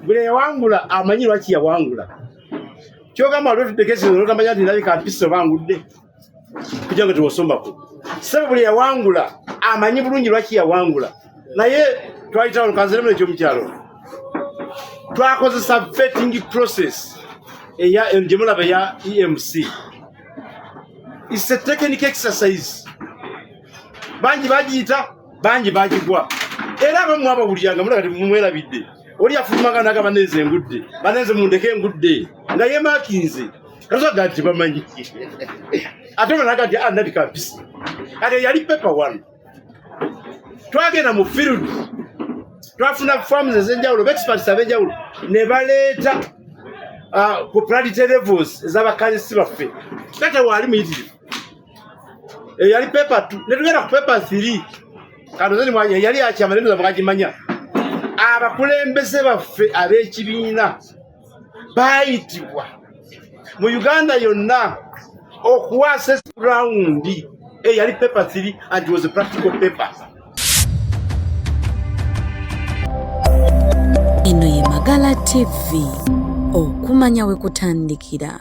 buli yawangula amanyi lwaki yawangula kyogamba lwetudekesinotamanya nti ndabika mpisa oba ngudde kuja nga tewasombako sebe buli yawangula amanyi bulungi lwaki yawangula naye twayitawo nkanziremu nekyomukyalo twakozesa vetting process eya gyemulaba ya emc is a technic exercise bangi bagiyita bangi bagigwa era abamu abawulira nga mulaba temumwerabidde oli afulumaga naga banenze engudde banenze mundeke engudde nga yemakinze kasoga nti bamanyi ate banaga nti anabika ah, mpisi kati yali pepa one twagenda mu field twafuna farms ezenjawulo bexperts abenjawulo ne baleeta ah, ku planetary levels ezabakansisi baffe kata waali muyitirivu Eh, yali pepa tu netugenda ku pepa thiri kanozanimwanya eh, yali akyama netuza mwagimanya abakulembeze baffe ab'ekibiina baayitibwa mu uganda yonna okuwaasa esirawundi eyali eh, pepa thiri and was a practical paper eno ye magala tv okumanya we kutandikira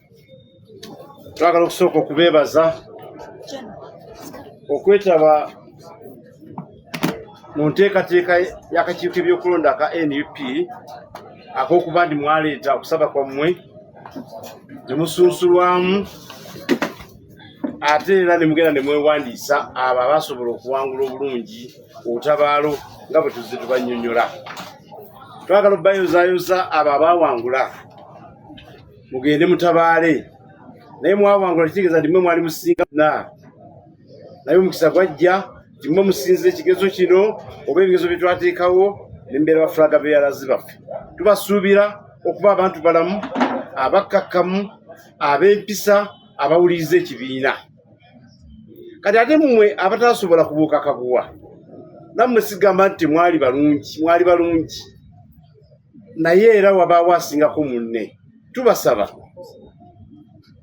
twagala okusooka okubeebaza okwetaba mu nteekateeka y'akakiiko ebyokulonda aka nup ak'okuba ndi mwaleeta okusaba kwammwe ne musunsulwamu ate era ne mugenda ne mwewandiisa abo abasobola okuwangula obulungi obutabaalo nga bwe tuzze tubannyonnyola twagala okubayozaayoza abo abaawangula mugende mutabaale naye mwawangula kitegeeza nti mwe mwali musinga na naye omukisa gwajja nti mwe musinzira ekigezo kino oba ebigezo bye twateekawo nembeera bafulaga beyalazi baffe tubasuubira okuba abantu balamu abakkakkamu ab'empisa abawuliriza ekibiina kati ate mumwe abataasobola kubuuka kaguwa nammwe sigamba nti mwali balungi mwali balungi naye era wabaawo asingako munne tubasaba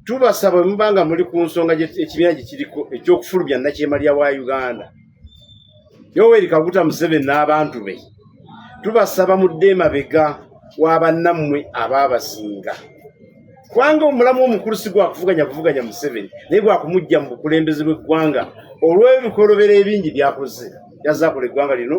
tubasaba muba nga muli ku nsonga ekibiina gye kiriko eky'okufulumya nakyemalira wa uganda yoweri kaguta museveni n'abantu be tubasaba mudde emabega wa bannammwe abaabasinga kubanga omulamu omukulu si gwakuvuganya kuvuganya museveni naye gwakumujja mu bukulembeze bw'eggwanga olw'ebikolobero ebingi byakoze yazakola eggwanga lino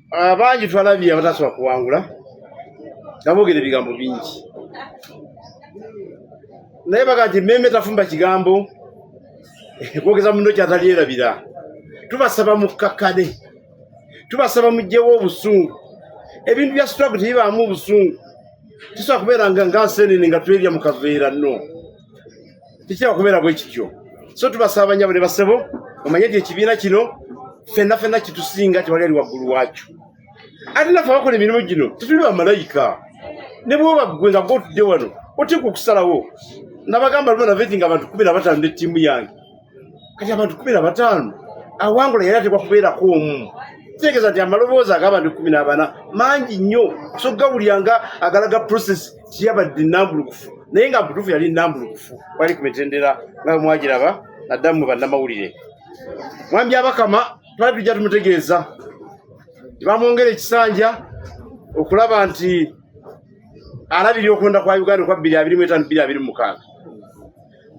abangi twalabye abatasobola kuwangula nga boogera ebigambo bingi naye baga nti mmeeme tafumba kigambo kwogeza muno kyatalyerabira tubasaba mukkakkane tubasaba mugjewo obusungu ebintu bya struggle tebibaamu obusungu tusobola kubeera nga nga nsenene nga twebya mu kaveera no tekitera kubeera bwe kityo so tubasaba banyabo ne basebo omanye nti ekibiina kino fenna fenna kitusinga tewali ali waggulu waakyo ate naffe abakola emirimu gino tetuli bamalayika ne bwoba ggwe nga gotudde wano oteeka okusalawo nabagamba luba naveti nga abantu kumi na batano ne ttiimu yange kati abantu kumi na bataano awangula yali atekwa kubeerako omu kitegeeza nti amaloboozi ag'abantu kumi n'abana mangi nnyo sogawulira nga agalaga process tiyabadde nambulukufu naye nga mbutuufu yali nambulukufu wali ku mitendera nga mwagiraba naddamu mu bannamawulire mwami abakama twali tujja tumutegeeza tebamwongera ekisanja okulaba nti alabirira okulonda kwa uganda okwa bbiri abiri mu etaano bbiri abiri mu mukaaga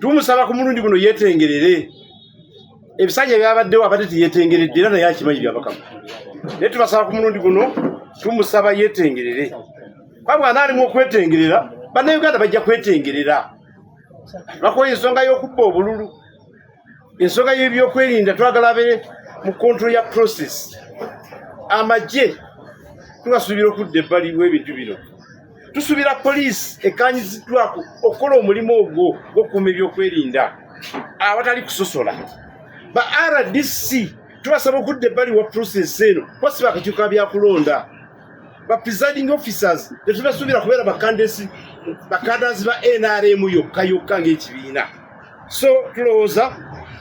tumusaba ku mulundi guno yetengerere ebisanja ebyabaddewo abadde teyetengeredde era naye akimanyi byabakama naye tubasaba ku mulundi guno tumusaba yetengerere kuba mwana alimu okwetengerera bannayuganda bajja kwetengerera bakola ensonga y'okubba obululu ensonga y'ebyokwerinda twagala be mu control ya process amagye tubasuubira okudda ebbali w'ebintu bino tusuubira poliisi ekkaanyiziddwako okukola omulimu ogwo gw'okukuuma ebyokwerinda awatali kusosola ba rdc tubasaba okudda ebbali wa pulosesi eno kuba si bakakyuka byakulonda ba presiding officers tetubasuubira kubeera bakandesi bakandasi ba nrm yokka yokka ng'ekibiina so tulowooza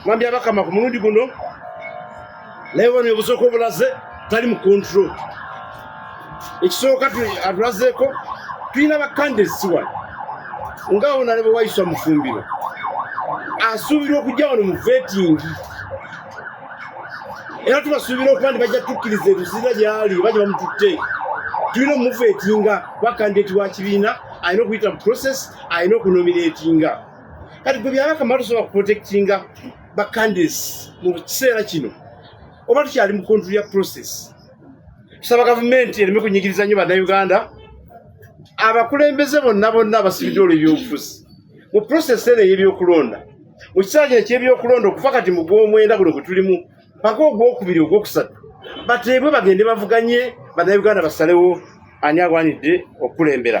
mwambi abakama ku mulundi guno naye bona obusooka obulaze tali mu control ekisooka atulazeeko tulina bakande siwano nga ona ne bwewayiswa mufumbiro asuubirwa okujja wano mu vetingi era tubasuubira okuba nti bajja tukkiriza ebizira gyali bajja bamututte tulina omuvetinga bakandidati wa kibiina alina okuyita mu process alina okunominetinga kati gwe byabaka mala tusobola kuprotectinga ba candidates mu kiseera kino oba tukyali mu kontri ya process tusaba gavumenti ereme kunyigiriza nnyo bannayuganda abakulembeze bonna bonna abasibidde olwo ebyobufuzi mu process eno ey'ebyokulonda mu kiseera kino eky'ebyokulonda okufa kati mu gw'omwenda guno gwe tulimu paka ogwokubiri ogwokusatu bateebwe bagende bavuganye bannayuganda basalewo ani agwanidde okukulembera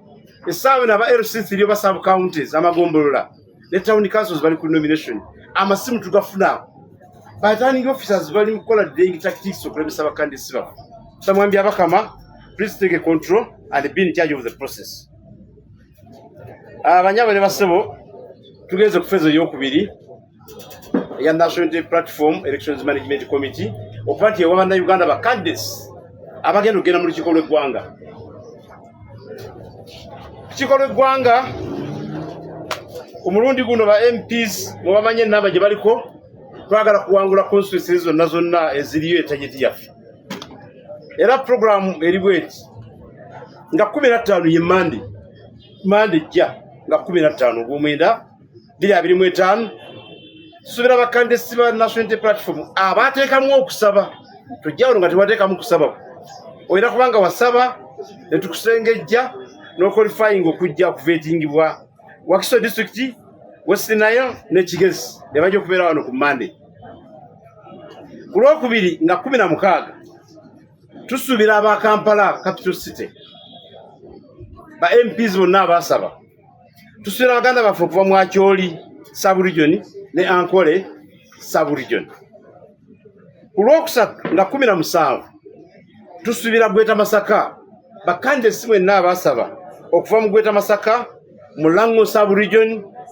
esaawa eno aba LC3 oba sub counties amagombolola ne town councils bali ku nomination amasimu tugafuna by turning officers bali mukola ding tactics okulemesa bakandi siba samwambi abakama please take a control and be in charge of the process abanyabo ah, ne basebo tugenze kufezo yokubiri eya National Unity Platform Elections Management Committee okuba nti ewa bannayuganda ba caddes abagenda okugenda mu lukiiko lw'eggwanga lukiiko lw'eggwanga ku mulundi guno ba MPs mubamanye enamba gye baliko twagala kuwangula constituency zonna zonna eziriyo etageti yaffe era program eri bweti nga kumi na ttaano ye mande mande ejja nga kumi na ttaano ogwomwenda biri abiri mu etaano tusuubira bakandisi ba national unity platform abateekamu okusaba tujjawulo nga tebateekamu kusaba olina kubanga wasaba ne tukusengejja n'okwalifyinga okujja okuvetingibwa wakiso district west nayo nekigezi ne bajja okubeera wano ku mande ku lwokubiri nga kumi na mukaaga tusuubira aba kampala capital city ba mps bonna abaasaba tusuubira baganda baffe okuva mu akyoli subregion ne ankole subregion ku lwokusatu nga kumi na musanvu tusuubira gweta masaka bakanda esi mwenna abasaba okuva mu gweta masaka mu lango subregion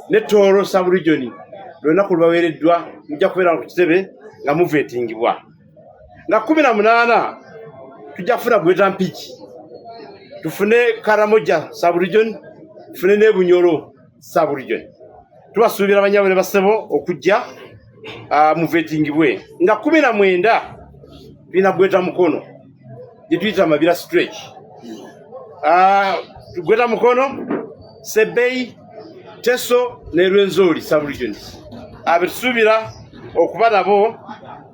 ne tooro subregion lwonna ku lubaweereddwa mujja kubeera ku kitebe nga muveetingibwa nga kumi na munaana tujja kufuna gweta mpiki tufune karamoja saburijoni tufune nebunyolo saburijoni tubasuubira banyabo ne basebo okujja ah, muvetingibwe nga kumi na mwenda tulina gweta mukono gye tuyita mabira stretch ah, gweta mukono sebei teso ne rwenzori subregions abetusuubira ah, okuba nabo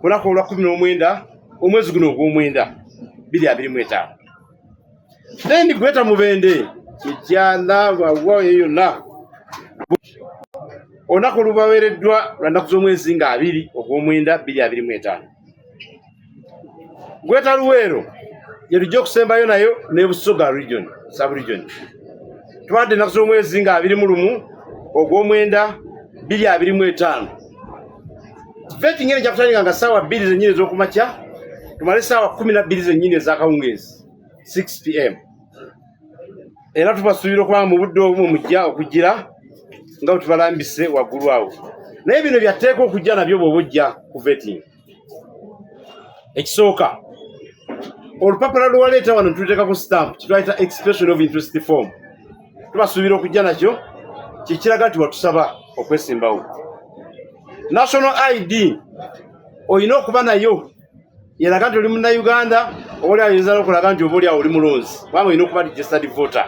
olunaku olwa kumi n'omwenda omwezi guno ogw'omwenda biri abiri mu etaano then gweta mubende ekyana wawa eyo yonna olunaku olubaweereddwa lwa nnaku z'omwezi nga abiri ogw'omwenda biri abiri mu etaano Gweta Luweero yetujja okusembayo nayo ne Busoga region sub region tubadde ennaku z'omwezi nga abiri mu lumu ogw'omwenda bbiri abiri mu etaano veti ngeri kyakutandika nga saawa bbiri zennyini ez'okumakya tumale saawa kumi na bbiri zennyini ez'akawungeezi 6 pm era tubasuubira okulaba mu budde obumu mujja okugira nga bwe tubalambise waggulu awo naye bino byatteeka okujja nabyo bwoba ojja ku vetting ekisooka olupapula lwewaleeta wano ntuteeka ku stamp kitwayita expression of interest form tubasuubira okujja nakyo kyekiraga nti watusaba okwesimbawo national id olina okuba nayo yeraga nti oli munnayuganda obaoli ayinza nokulaga nti obaoli awo oli mulonzi kubanga olina okuba registered voter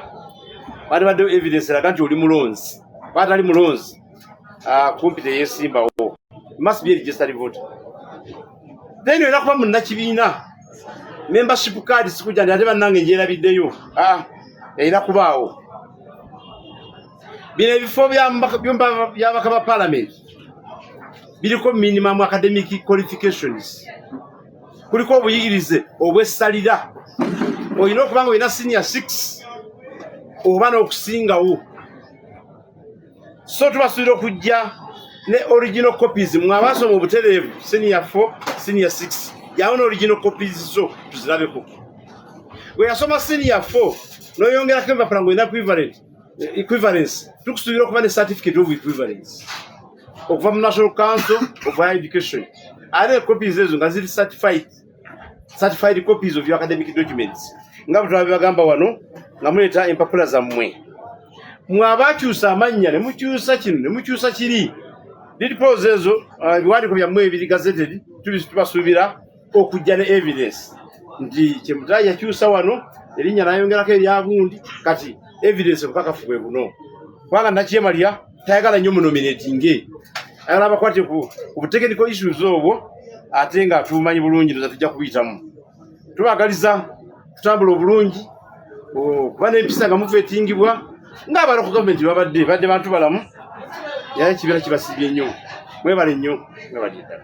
batibadde evidence eraga nti oli mulonzi kuba atali mulonzi ah, kumpi teyesimbawo must be registered voter then olina kuba munnakibiina membership card sikuja ndi ate bannange njerabiddeyo ah, erina kubaawo bino ebifo byabaka ba palamenti biriko minimum academic qualifications kuliko obuyigirize obwessalira olina okuba nga olina senior six oba n'okusingawo so tubasuubira okujja ne original copies mwabasoma obutereevu senior four senior six yawo ne original copies zo tuzirabeko bwe yasoma senior four noyongerako empapula nga olina equivalent equivalence tukusuubira okuba ne certificate of equivalence okuva mu national council of higher education ate copies ezo nga ziri certified certified copies of your academic documents nga bwetwabibagamba wano nga muleeta empapula zammwe mwabakyusa amannya ne mukyusa kino ne mukyusa kiri did pose ezo uh, ebiwandiiko byammwe ebiri gazetted tubasuubira okujja ne evidence nti kyemutayi yakyusa wano erinnya nayongerako eryagundi kati evidence obukakafu bwe buno kubanga nakyemalira tayagala nnyo munominatinge ayagala abakwate ku butekenical issues obwo ate nga tumanyi bulungi noza tujja kubiyitamu tubagaliza kutambula obulungi kuba nempisa nga muva etingibwa ngaabala ku gavumenti babadde badde bantu balamu yaya ekibiina kibasibye nnyo mwebale nnyo mwebale ddala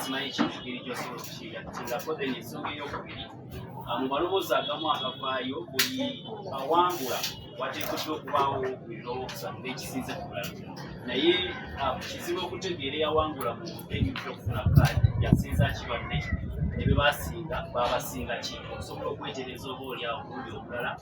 simanyi kikigeri kyosobola okukigatingako then ensonga eyokubiri mu maloboozi agamu agavaayo buli awangula wateekeddwa okubaawo ebiroobo okusatu n'ekisinze ku bulala naye kizibu okutegeera eyawangula mu enyumira okufuna kaadi yasinza kibadde ne bye basinga baabasinga ki osobola okwetereza oba olyawo omulundi omulala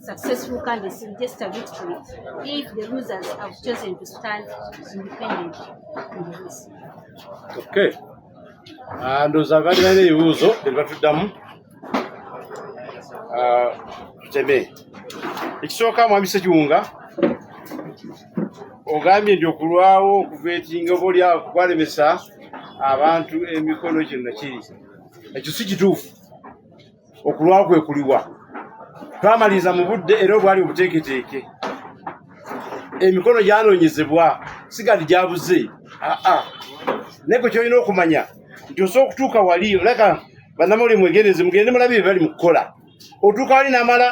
successful candidates will just a victory if the losers have chosen to stand independent in the race. Okay. Ah, ndowooza abali balina ebibuuzo bye batuddamu ah, tuteme ekisooka mwami sekiwunga ogambye nti okulwawo okuvetinga oba olyawo kwalemesa abantu emikono kino nakiri ekyo si kituufu okulwawo kwe kuliwa twamaliriza mu budde era obwali obuteeketeeke emikono gyanoonyezebwa sigandi gyabuze aa naye kwe kyolina okumanya nti osobola okutuuka wali olaka banamuli mwegendereze mugende mulabi bye bali mu kukola otuuka wali namala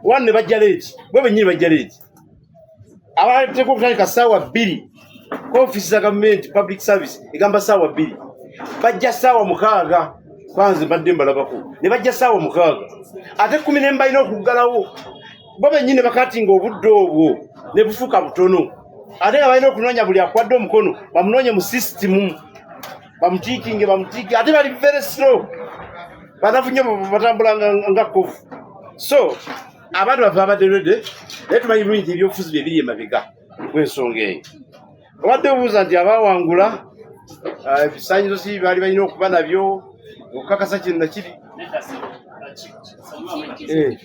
wano ne bajja leeti bwe bennyini bajja leeti abateeka okutandika saawa bbiri ofisi za gavumenti public service egamba saawa bbiri bajja saawa mukaaga kwanze mbadde mbalabako ne bajja saawa mukaaga ate kumi ne mbalina okuggalawo bo bennyini bakatinga obudde obwo ne bufuuka butono ate nga balina okunoonya buli akwadde omukono bamunoonye mu sisitimu bamutiikinge bamutiiki ate bali very slow banafunye batambula nga kovu so abantu baffe babadde lwedde naye tumanyi bulungi nti ebyobufuzi bye biri emabega gw'ensonga eyo obadde obuuza nti abaawangula ah, ebisaanyizo si baali balina okuba nabyo okukakasa kino nakiri eh.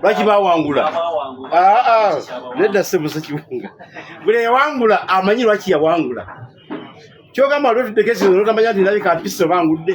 lwaki bawangula ah, ah. nedda sebusa kiwunga buli yawangula amanyi lwaki yawangula kyogamba lwetudekesino notamanya nti nabika mpisa obangudde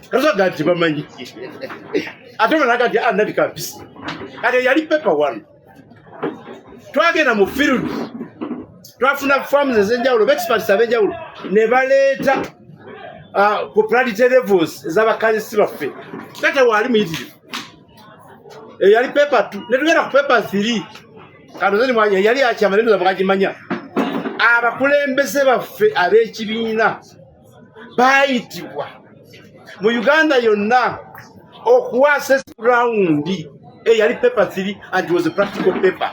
kasaga nti bamanyi ate banaga nti anati ah, kabisa kati yali pepa one twagenda mu field twafuna farms ezenjawulo bexperts abenjawulo ne baleeta ah, ku planetary levels ezabakazisi baffe kate waali muyitirivu eyali eh, pepa t netugenda ku pepa three kanozeyali akyama nenozabagagimanya abakulembeze baffe ab'ekibiina baayitibwa mu uganda yonna okuwaasa esirawundi eyali eh, pepa three and was a practical paper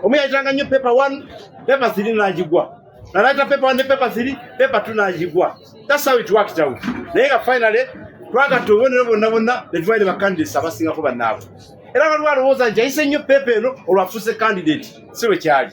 omu yayitanga nnyo pepa one pepa three nagigwa nalayita pepa one ne pepa three pepa two nagigwa that's how it worked out naye nga finally twagatta obubonero bonna bonna ne tuwaire bacandidates abasingako bannaabwe era waliwo alowooza nti ayise nnyo peepa eno olwafuuse candidate si lwe kyali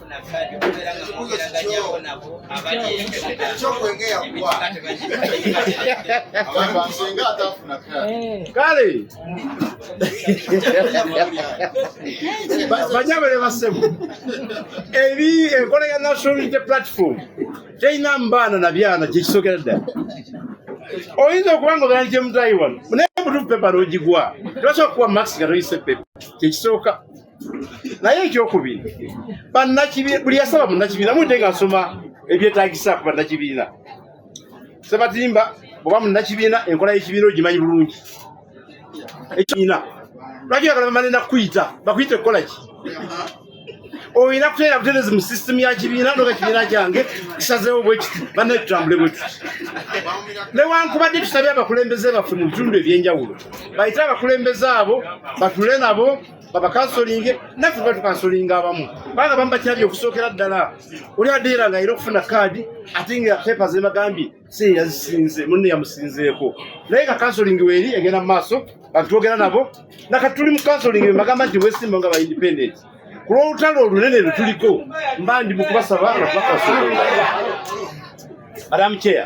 kale banyabale basemu eri enkola ya national unity platform terina mbaana na byana kyekisokera ddala oyinza okuba nga obeera nkyemutayiwano naye mutufu pepa nogigwa tebasobola kuwa max nga toyise pepa kyekisooka naye ekyokubiri banakibi buli yasaba munakibiina mudde nga nsoma ebyetagisa ku banakibiina sebatimba oba munakibiina enkola yekibiina ogimanyi bulungi ekiina lwaki bagala bamale nakukuyita bakuyita ekukolaki oyina kuteera buterezi mu system ya kibiina noga kibiina kyange kisazewo bwekiti banaye tutambule bwetuti newankubadde tusabye abakulembeze baffe mu bitundu ebyenjawulo bayite abakulembeze abo batule nabo babakansolinge naffe tuba tukansolinga abamu kubanga bamu bakyabye okusookera ddala oli adeera nga era okufuna kaadi ate nga pepa zemagambye si yazisinze munne yamusinzeeko naye nga kansolingi weeri egenda mu maaso batwogera nabo nakati tuli mu kansolingi bemagamba nti wesimba nga baindependent ku lw'olutalo olunene lwe tuliko mba ndi mu kubasaba nga tubakasolinga adamu kyeya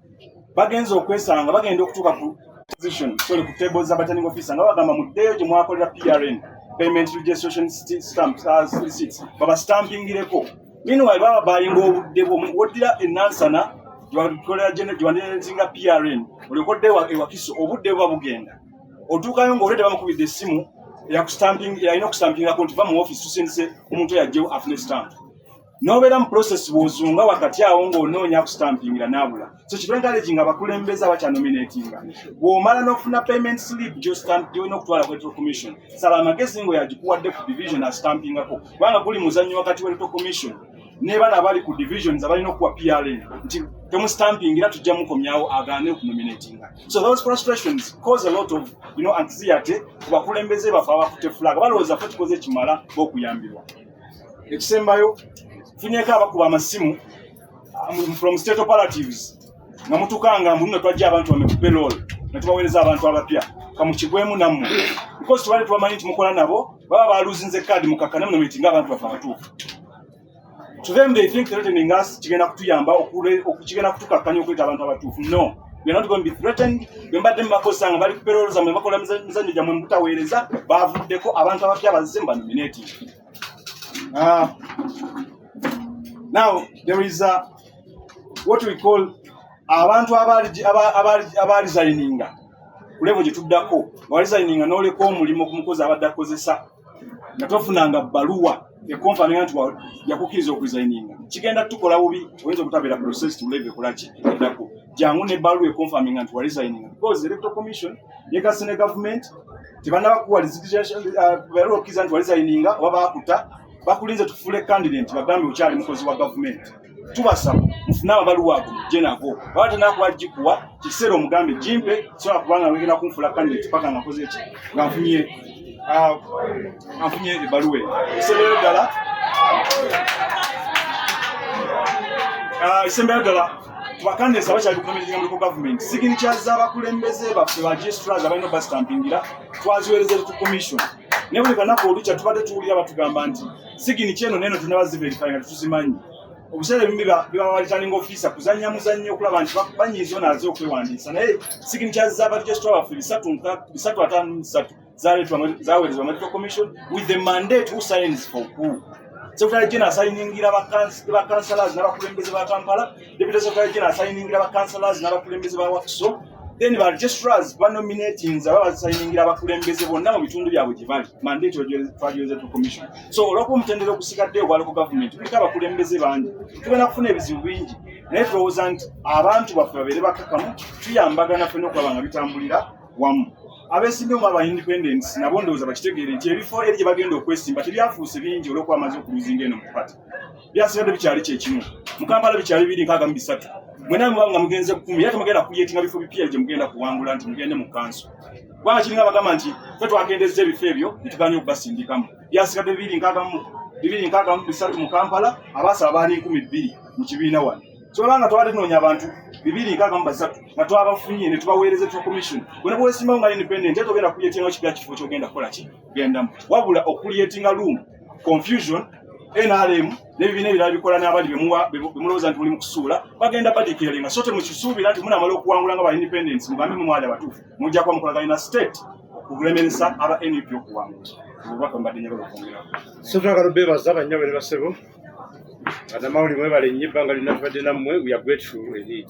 bagenze okwesanga bagenda okutuuka ku position sorry ku table za returning officer nga bagamba muddeeyo gye mwakolera PRN payment registration stamp uh, receipts baba stampingireko meanwhile baba bayinga obudde bwo woddira enansana gyewakolera gyewanderetinga PRN olyokodde ewakiso obudde buba bugenda otuukayo ng'olwe tebamukubidde essimu eyakustamping yalina okustampingako nti va mu office tusindise omuntu yajjewo afune stamp nobeera mu process bwozunga wakati awo ngaonoonya kustampingira nabula so kitenkalegi nga bakulembeza bakyanominatinga bwomala nofuna payment slip gyolina okutwala ku electoral commission sala amagezi nga yagikuwadde ku division astampingako kubanga guli muzannyo wakati wa electoral commission nebana abali ku divisions abalina okuwa prn nti temustampingira tujja mukomyawo agaane okunominatinga so those frustrations cause a lot of you know, anxiety ku bakulembeze bafe abafute flag balowooza fe tukoze ekimala okuyambibwa ekisembayo funyeko abakuba amasimu um, from state operatives nga mutukanga mbu nno twajja abantu bame ku pelol ne tubaweereza abantu abapya kamukigwemu nammwe because tubale tubamanyi nti mukola nabo baba baluzinze kaadi mukakkane muno mitinga abantu bafe abatuufu to them they think threatening us kigenda kutuyamba okugenda kutukakkanya okuleeta abantu abatuufu no You're not going to be threatened. Bembadde mubakozesa nga bali kuperoolo zamwe bakola mizannyo gyamwe mubutaweereza baavuddeko abantu abapya bazze mu banominati. Ah. Now there is a, what we call abantu abaali zayininga ku levo gye tuddako nga wali zayininga n'oleka omulimu ku mukozi abadde akozesa nga tofunanga bbaluwa ekonfamira nti yakukkiriza okuzayininga kigenda tukola bubi oyinza okutabeera process tuleve kulaki eddako jangu ne bbaluwa ekonfaminga nti walizayininga because electoral commission yegasi ne government tebanabakuwa uh, okukiriza nti walizayininga oba bakuta bakulinze tufuule candidate bagambe okyali mukozi wa gavumenti tubasaba mufune amabaluwa ago mujje nago baba tenakuba gikuwa kikiseera omugambe gimpe sobola kubanga wegenda kunfula kandidate paka nga nkoze ki nga nfunye ah, nga nfunye ebaluwa eyo ekiseerero ddala ekisembeero ah, ddala tubakandesa bakyali kukomerera muliko gavumenti sigini kyaza abakulembeze baffe ba gistras abalina obasitampingira twaziwereza etu commission naye buli kanaku olukya tubadde tuwulira batugamba nti sigini kyeno neno tunaba ziverify nga tuzimanyi obuseera ebimu bibawalitaninga ofiisa kuzannya muzannyo okulaba nti banyiiza ono aze okwewandiisa naye sigini kya zabarijositwa baffe bisatu ataano musatu zaweerezebwa medical commission with the mandate who signs for who secretary general asayiningira bakansalas n'abakulembeze ba kampala deputy secretary general asayiningira bakansalas n'abakulembeze ba wakiso then ba registrars ba nominating za baba sayiningira abakulembeze bonna mu bitundu byabwe gye bali mandate twagyoze to commission so olwokuba omutendera okusigadde ogwali ku government kuliko abakulembeze bangi tugenda kufuna ebizibu bingi naye tulowooza nti abantu baffe babeere bakkakamu tuyambagana fena okulaba nga bitambulira wamu abesimbi omu aba independents nabo ndowooza bakitegeere nti ebifo eri gye bagenda okwesimba tebyafuuse bingi olwokuba amaze okuluzinga eno mu pati byasigadde bikyali kyekimu mukambala bikyali biri nkaaga mu bisatu mwena muba nga mugenze kumi era temugenda kuyetinga bifo bipya gye mugenda kuwangula nti mugende mu kanso kubanga kiringa bagamba nti fe twakendezza ebifo ebyo netuganya okubasindikamu byasigadde bibiri nkagamu bibiri nkagamu bisatu mu kampala abaasaba baali nkumi bbiri mu kibiina wano kyobanga twabadde tunoonya abantu bibiri nkagamu basatu nga twabafunye ne tubaweereza etuwa commission bona bwesimbawo nga independent era togenda kuyetinga kibya kifo kyogenda kukola ki gendamu wabula okuliyetinga room confusion nrm nebibiina ebirala bikola n'abali bemulowooza nti muli mukusuula bagenda badikiralinga so temukisuubira nti munamala okuwangula nga ba independence mugambe mumwali abatuufu mujja kuba mukolaganye na state okulemeresa aba nup okuwangula obubaka mbadde njagala okwongerawo so twagala obeebaza banyabo ne basebo banamawuli mwebale nnyo ebbanga lyonna tubadde nammwe we are grateful indeed